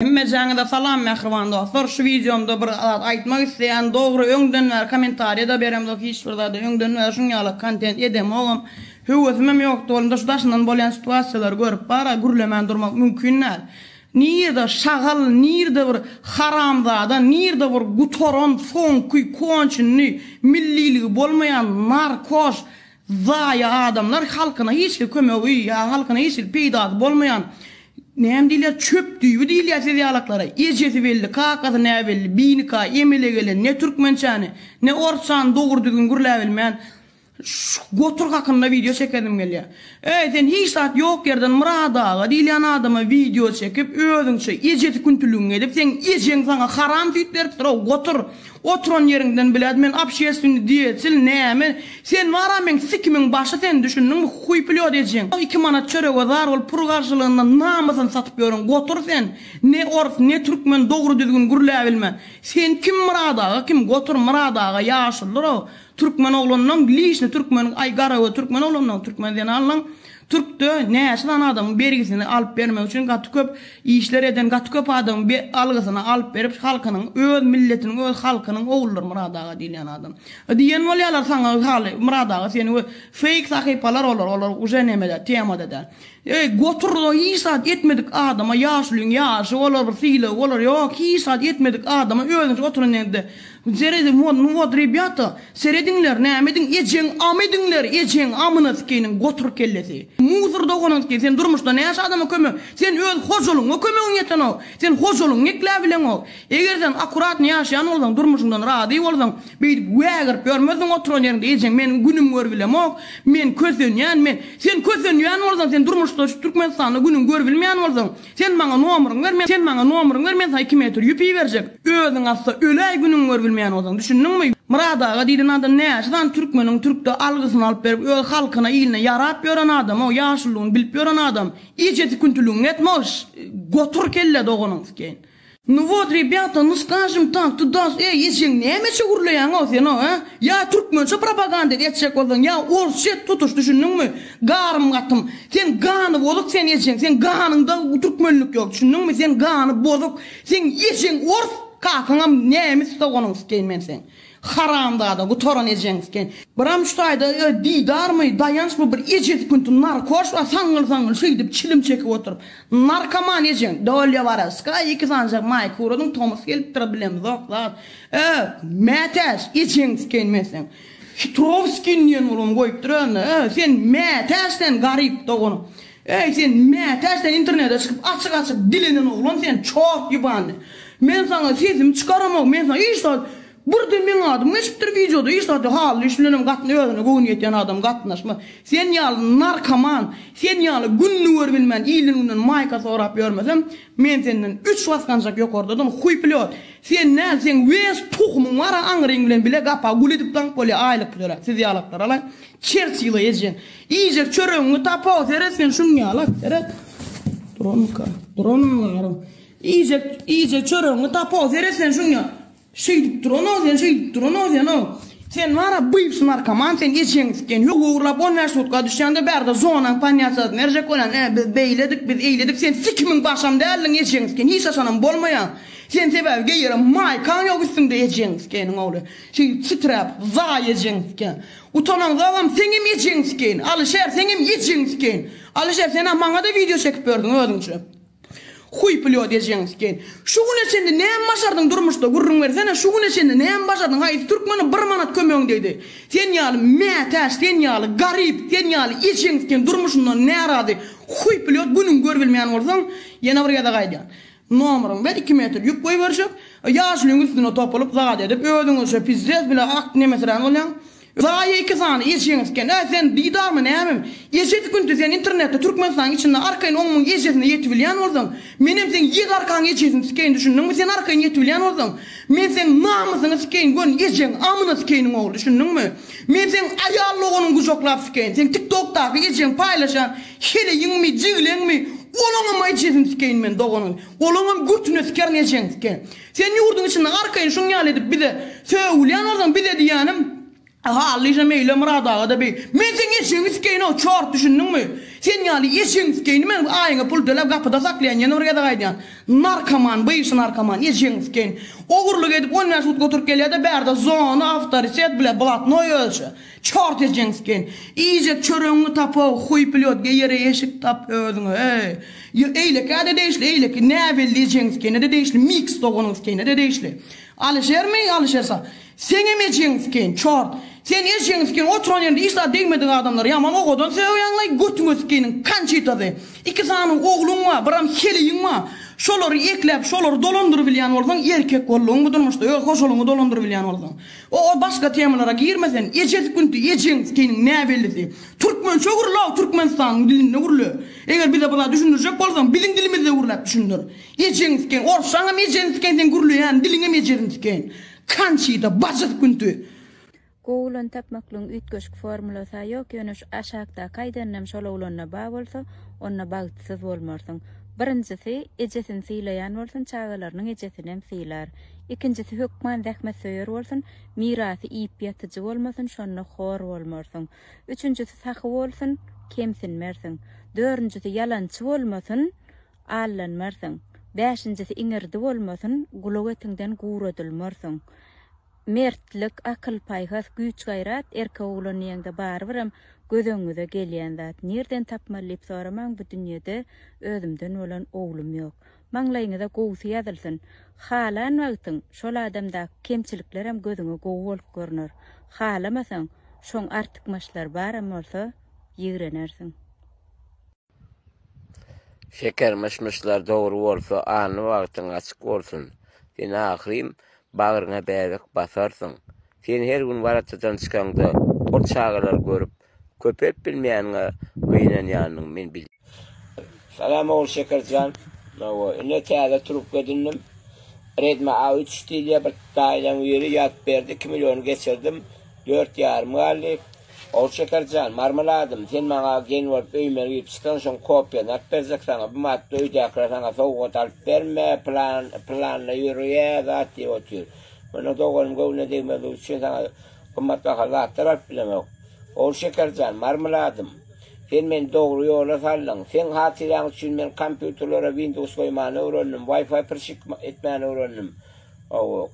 Hemmejaňize salam mähriban dostlar şu wideomda bir zat aýtmak isleýän dogry öňden bäri komentariýada beremzok hiç bir zada öňden bäri şuň ýaly kontent edemogam höwesimem ýokdy bolumda şu daşyndan bolýan situasiýalary görüp bara gürlemän durmak mümkin däl nirde şagal nirde bir haramzada nirde bir gutaran soňky konçenny milliligi bolmaýan narkoş Zaýa adamlar halkyna hiçhil kömegi ýa halkyna hiçhil peýdasy bolmaýan näme diýilýär çöp düýbi diýilýär siz ýalaklara ejesi belli kakasy näbelli binika emele gelen ne türkmençäni ne orsçany dogry düzgün gürläbilmeýän şu gotur hakynda wideo çekesim gelýär eý sen hiç zat ýok ýerden Myrat aga diýilýän adama wideo çekip özüňçe ejesi küntüligiňi edip seň ejeň saňa haram süýt beripdir ow gotur Oturan ýeriňden biläd men obşeственny diýeçil näme sen bara meň sikimiň başy sen düşündiňmi huý plýot ejeň iki manat çörege zar bolup pul garşylygynda namysyny satyp ýören gotur sen ne ors ne türkmen dogry düzgün gürläbilme sen kim myrat aga kim gotur myrat aga ýaşulydyr o türkmen oglanlaň lişni türkmen aý garagöz türkmen oglanlaň türkmen zenanlaň Türkde näçe sany adamyň bergisini alyp bermek üçin gaty köp işler eden gaty köp adamyň be algysyny alyp berip halkynyň öz milletiniň öz halkynyň ogullary Myrat aga diýilýän adam y diýen bolýalar saňa y haly Myrat aga seni we feýk sahypalar olar olar uje nemede temada däl y goturda hiç zat etmedik adama ýaşulyň ýaşy olar bir sylagy olar ýok hiç zat etmedik adama özüniçe oturan ýerinde Seredin won nu wod rebýata serediňler näme ediň ejeň am ediňler ejeň amyna sikeyniň gotur kellesi muzr doganysky sen durmuşda näçe adama kömek sen öz hojalygyňa kömegiň ýetenok sen hojalygyňy ekläp bileňok eger sen akuratny ýaşaýan bolsaň durmuşyňdan razy bolsaň beýdip wägirip ýörmezdiň oturan ýeriňde ejeň meniň günüm gör bilemok men kösenýän men sen kösenýän bolsaň sen durmuşda şu türkmenistanda günüň gör bilmeýän bolsaň Sen maňa nomryňy ber, men Sen maňa nomryňy ber, men saňa iki metr ýüp iberjek. Özüň atsa, öläý günüňi görübilmeýän bolsaň. Düşündiňmi? Myrat aga diýlen adam näçe sany türkmeniň türkde algysyny alyp berip, öz halkyna, iline ýarap ýören adam-ow, ýaşulygyny bilip ýören adam. Ýeje süküntiligiňi etme ol, ş, gotur kelle doganyňskeýin. Nu wot rebýata nu skažim tak tu das eý ejeň näme üçe gürleýäňow sen o a ýa türkmençe propaganda etjek bolsaň ýa orsça et tutuş düşündiňmi garym gatym sen gany bozuk sen ejeň sen ganyňda türkmenlik ýok düşündiňmi sen gany bozuk seň ejeň ors kakaňam nemis doganyňskeýmen seň. Haramzada gutaran ejeňiz eken. Biram şu taýda öý didarmy, daýançmy bir eje sükunty narkoş bar saňňyl-saňňyl şeýdip çilim çekip oturyp. Narkoman ejeň. Dolýa Warawskaýa iki sanjak maý kuradyň tomus gelipdir bilemzok zat. Öý, mätäç ejeňiz eken meseň. Hitrowskin diýen urugyny goýupdyr özüne. Öý, sen mätäç sen garyp dogan. Äý sen mätäç sen internete çykyp açyk açyk dilenen oglan sen çort ýubany men saňa sesimi çykaramok men saňa iş zat birde meň adym geçipdir wideoda iş zat ýok hally iş bilenem gatna özüne göwni ýetýän adam gatnaşmaz sen ýaly narkoman sen ýaly gününi görbilmän ilden günden maýka sorap ýörmesem men senden üç basganjak ýokardadyn huýpilýot sen näl seň wes tuhumyň bara aňryň bilen bile gapa gul edip daňyp bolýa aýlyk töläp siz ýalaklar alaý çerçila ejen Iýjek çöregiňi tapa-ow, seret sen şuny ýala, seret. Duranmyka? Duranmy gara? Iýjek, iýjek çöregiňi tapa-ow, seret sen şuny ýala. Şeýdip duran-ow sen, şeýdip duran-ow sen-ow. Sen wara byýs narkoman, sen eşegiň sikeni, ýok ogurlap on bäş sutka düşýäňde bärde zonaň panýaçasyny berjek bolýan, e, biz beýledik, biz eýledik, sen sikimiň başam däldiň eşegiň sikeni, hiç haçanam bolmaýaň, sen sebäbi geýeren maýkaň ýok üstüňde eşegiň sikeniň ogly, şeýdip siträp, zaý eşegiň sikeni. Utanaňzagam seňem ejeň sikeýin Alyşer seňem ejeň sikeýin Alyşer senä maňada wideo çekip berdiň özüňçe Huý plýot ejeň sikeýin Şu güne çenli näme başardyň durmuşda gürrüň bersene şu güne çenli näme başardyň haýsy türkmene bir manat kömegiň degdi sen ýaly mätäç sen ýaly garyp sen ýaly ejeň sikeýin durmuşyndan närazy huý plýot günüňi görübilmeýän bolsaň ýene bir gezek aýdýan Nomeriň bilen iki metr ýük goýberişip, ýaşulyň üstüne topulyp zat edip, özüňizçe pizzez bile ak nemeserän bolýaň. Zaýa iki sany eşegiň isken. Äý, sen diýdarmy, nämemi? Eşesi günti sen internetde Türkmenistanyň içinde arkaýyn on müň eşesine ýetibilýän bolsaň, menem seň ýedi arkaň eşesini sikeýin, düşündiňmi? Sen arkaýyn ýetibilýän bolsaň, men seň namysyňy sikeýin, göni eşegiň amyna sikeýiniň ogly, düşündiňmi? Men seň aýal doganyňy gujaklap sikeýin, seň TikTokdaky eşegiň paýlaşýan Heleýiňmi, jigleňmi, olaňam ejesini sikeýin men, doganyny, olaňam götüne sikerin ejeňi siken. Sen ýurduň içinde arkaýyn şuň ýaly edip bize sögülýän bolsaň, bize diýýänim, Hallyja Meýle Myrat aga-da beý. Men seň eşegiňi sikeýin-ow, çort, düşündiňmi? Sen ýaly eşegiňi sikeýin men, aýyňa pul töläp gapyda saklaýan, ýene bir gezek aýdýan. Narkoman, bygşy narkoman, ejegiňi sikeýin. Ogurlyk edip on bäş sutka oturyp gelýä-de bärde zona, awtoritet, bile, blatnoý ölçe. Çort ejeňs gen. Iýjek çöregiňi tap-ow, huý plýotga ýere eşik tap özüňe, eý. Ýo, eýlekä-de degişli, eýleki näbelli ejeňs gene-de degişli, miks doganyňs gene-de degişli. Alyşermi, Alyşer sa. Seňem ejeňs gen, çort. Sen ejeňs gen oturan ýerinde hiç zat degmedik adamlary ýaman owadan sögýäňlaý, götüňe sikeniň kançitasy. Iki sany ogluň bar, biram heleýiň bar. Şolary ekläp, şolary dolandyrybilýän bolsaň, erkek bolduň bu durmuşda, öz hojalygyňy dolandyrybilýän bolsaň. O ol başga temalara girmesen ejesi günti ejeň seniň näbellisi türkmençe gürle türkmenistanyň dilinde gürle eger bize bula düşündirjek bolsaň biziň dilimizde gürläp düşündir ejeň sikeň orssaň hem ejeň sikeň seň gürleýän diliň hem ejeziň sikeň kançida bajys günti. Google'dan tapmaklygyň üýtgeşik formulasy-a ýok, ýöne şu aşakdaky aýdanyňam şol oglanda ba bolsa, onda bagtsyz bolmarsyň. Birinjisi, ejesini sylaýan bolsun, çagalarynyň ejesinem sylar. Ikinjisi hökman zähmetsöýer bolsun, mirasy iýip ýatyjy bolmasyn, şonda hor bolmarsyň. Üçünjisi sahy bolsun, kemsinmersiň. Dördünjisi ýalançy bolmasyn, aldanmarsyň. Bäşinjisi iňirdi bolmasyn, gulak etiňden guradylmarsyň. Mertlik, akyl-paýhas, güýç-gaýrat erkek oglan diýeňde barybirem göz öňüňize gelýän zat. Nirden tapmaly diýip soramaň, bu dünýede özümden bolan oglum ýok. maňlaýyňyza gowusy ýazylsyn. Halan wagtyň şol adamdaky kemçiliklerem gözüňe gowy bolup görner. Halamasaň, şoň artykmaçlary baram bolsa, ýigrenersiň. Şeker myş-myşlar dogry bolsa, alny bagtyň açyk bolsun. Sen ahyryn bagryňa bäbek basarsyň. Sen her gün waratadan çykaňda, ol çagalary görüp, Köpelip bilmeýäniňe gynanýanyň men bilýän. Salam ogul Şekerjan. Hawa, ine täze trubka edindim. Redmi A üç diýilýär, bir daýzaň biri ýazyp berdi, iki milliony geçirdim, dört ýarym galdy. Ogul Şekerjan, marmeladym, sen maňa gelin bolup öýüme girip çyksaň, şoň kopiýany alyp berjek saňa, bu matda öýdäkiler saňa sowgat alyp berme, plan, planda ýörýä zat diýip otyr. Meniň doganym göwnüne degmezligi üçin saňa. Gymmatbaha zatlar alyp bilemok. Ogul Şekerjan, Marmyladym, sen meni dogry ýola saldyň. Seň hatyraň üçin men kompýuterlere Windows goýmany öwrendim, Wi-Fi prşik etmäni öwrendim.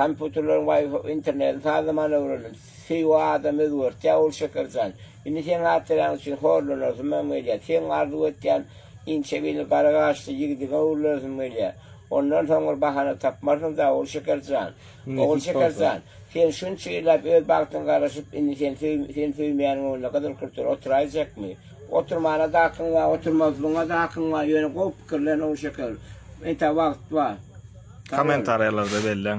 Kompýuterleriň Wi-Fi internetini sazlamany öwrendim. Söýgi adamy özgertýär, Ogul Şekerjan. Indi seň hatyraň üçin horlanasym hem gelýär. Seň arzuw etýän inçe belli gara gaşly ýigidiňe öwrülesim gelýär. Ondan soň bir bahana tapmarsyň-da, Ogul Şekerjan. Ogul Şekerjan, sen şunça ýyllap öz bagtyňa garaşyp, indi sen seni söýmeýäniň öňünde gyzyl kürtler oturaýjakmy? Oturmana-da hakyň bar, oturmazlygyňa-da hakyň bar, ýöne gowy pikirlen, Ogul Şeker. Entäk wagt bar. Kommentariýalarda belläň.